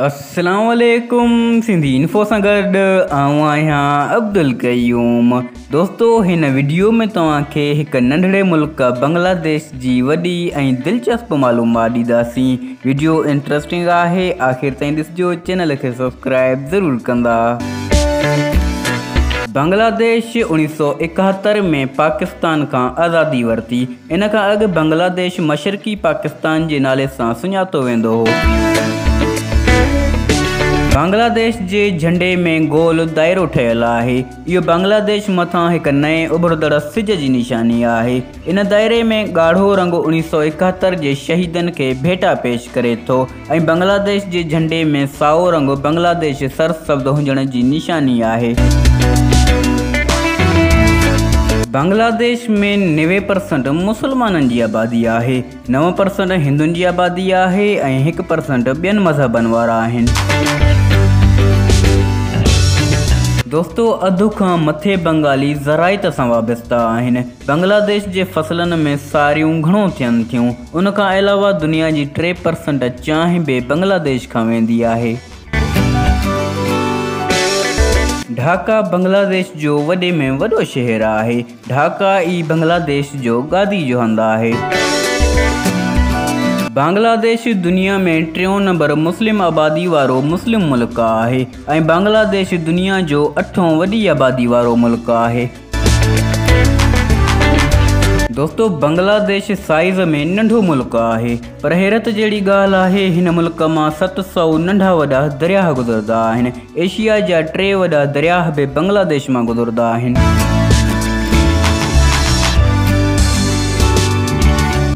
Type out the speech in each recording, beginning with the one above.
السلام عليڪم سنڌي انفو سان گڏ آئون آهيان عبدالقيوم دوستو هن ويڊيو ۾ توهان کي هڪ ننڍڙي ملڪ بنگلاديش جي وڏي ۽ دلچسپ معلومات ڏينداسين ويڊيو انٽرسٽنگ آهي آخر تائين ڏسجو چينل کي سبسڪرائب ضرور ڪندا بنگلاديش اڻيهه سؤ اڪهتر ۾ پاڪستان کان آزادي ورتي ان کان اڳ بنگلاديش مشرقي پاڪستان جي نالي سان سڃاتو ويندو هو. بنگلاديش جي جهنڊي ۾ گول دائرو ٺهيل آهي. اهو بنگلاديش مٿان هڪ نئين اڀرندڙ سج جي نشاني آهي. ان دائري ۾ ڳاڙهو رنگ اڻيهه سؤ ايڪهتر جي شهيدن کي ڀيٽا پيش ڪري ٿو. ۽ بنگلاديش جي جهنڊي ۾ سائو رنگ بنگلاديش سرسبز هجڻ جي نشاني آهي. بنگلاديش ۾ نوي پرسنٽ مسلمانن جي آبادي آهي، نو پرسنٽ هندن جي آبادي آهي ۽ هڪ پرسنٽ ٻين مذهبن وارا آهن. دوستو اڌ کان مٿي بنگالي زراعت سان وابسته آهن. بنگلاديش جي فصلن ۾ ساريون گهڻو ٿين ٿيون. ان کان علاوه دنيا جي ٽي پرسنٽ چانهه به بنگلاديش کان ويندي آهي. ڍاڪا بنگلاديش جو وڏي ۾ وڏو شهر آهي. ڍاڪا ئي بنگلاديش جو گادي جو هنڌ آهي. بنگلاديش دنيا ۾ ٽيون نمبر مسلم آبادي وارو مسلم ملڪ آهي ۽ بنگلاديش دنيا جو اٺون وڏي آبادي وارو ملڪ آهي. دوستو بنگلاديش سائيز ۾ ننڍو ملڪ آهي پر حيرت جهڙي ڳالهه آهي هن ملڪ مان ست سؤ ننڍا وڏا درياهه گذردا آهن ايشيا جا ٽي وڏا درياهه به بنگلاديش مان گذردا آهن.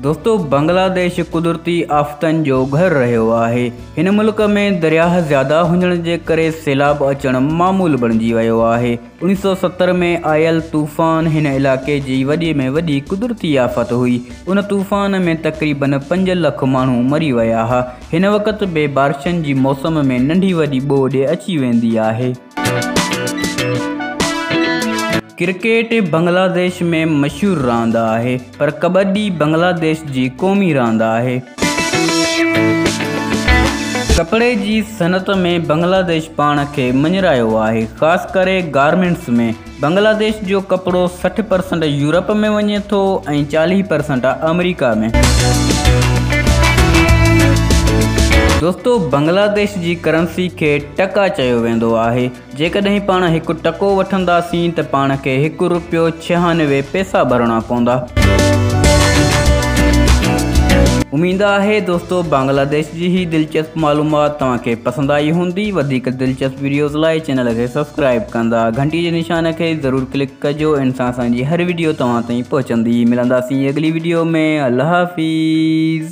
دوستو بنگلاديش قدرتي آفتن جو گهر رهيو آهي هن ملڪ ۾ درياهه زياده هجڻ جي ڪري سيلاب اچڻ معمول بڻجي ويو آهي اڻيهه سؤ ستر ۾ آيل طوفان هن علائقي جي وڏي ۾ وڏي قدرتي آفت هئي. ان طوفان ۾ تقريبن پنج لک ماڻهو مري ويا ها. هن وقت به بارشن جي موسم ۾ ننڍي وڏي ٻوڏ اچي ويندي آهي. ڪرڪيٽ بنگلاديش ۾ مشهور راند آهي. پر ڪٻڊي بنگلاديش جي قومي راند آهي. ڪپڙي جي صنعت ۾ بنگلاديش پاڻ کي مڃرايو آهي، خاص ڪري گارمينٽس ۾. بنگلاديش جو ڪپڙو سٺ پرسنٽ يورپ ۾ وڃي ٿو ۽ چاليهه پرسنٽ آمريڪا ۾. دوستو بنگلاديش جي ڪرنسي کي ٽڪا چيو ويندو آهي. جيڪڏهن پاڻ هڪ ٽڪو وٺنداسين ته پاڻ کي هڪ رپيو ڇهانوي پئسا ڀرڻا پوندا. اميد آهي دوستو بنگلاديش جي هي دلچسپ معلومات توهان کي پسند آئي هوندي. وڌيڪ دلچسپ وڊيوز لاء چينل کي سبسڪرائيب ڪندا. گهنٽي جي نشان کي ضرور ڪلڪ ڪجو ان سان اسان جي هر وڊيو توهان تائين پهچندي. ملنداسين اڳلي وڊيو ۾ الله حافظ.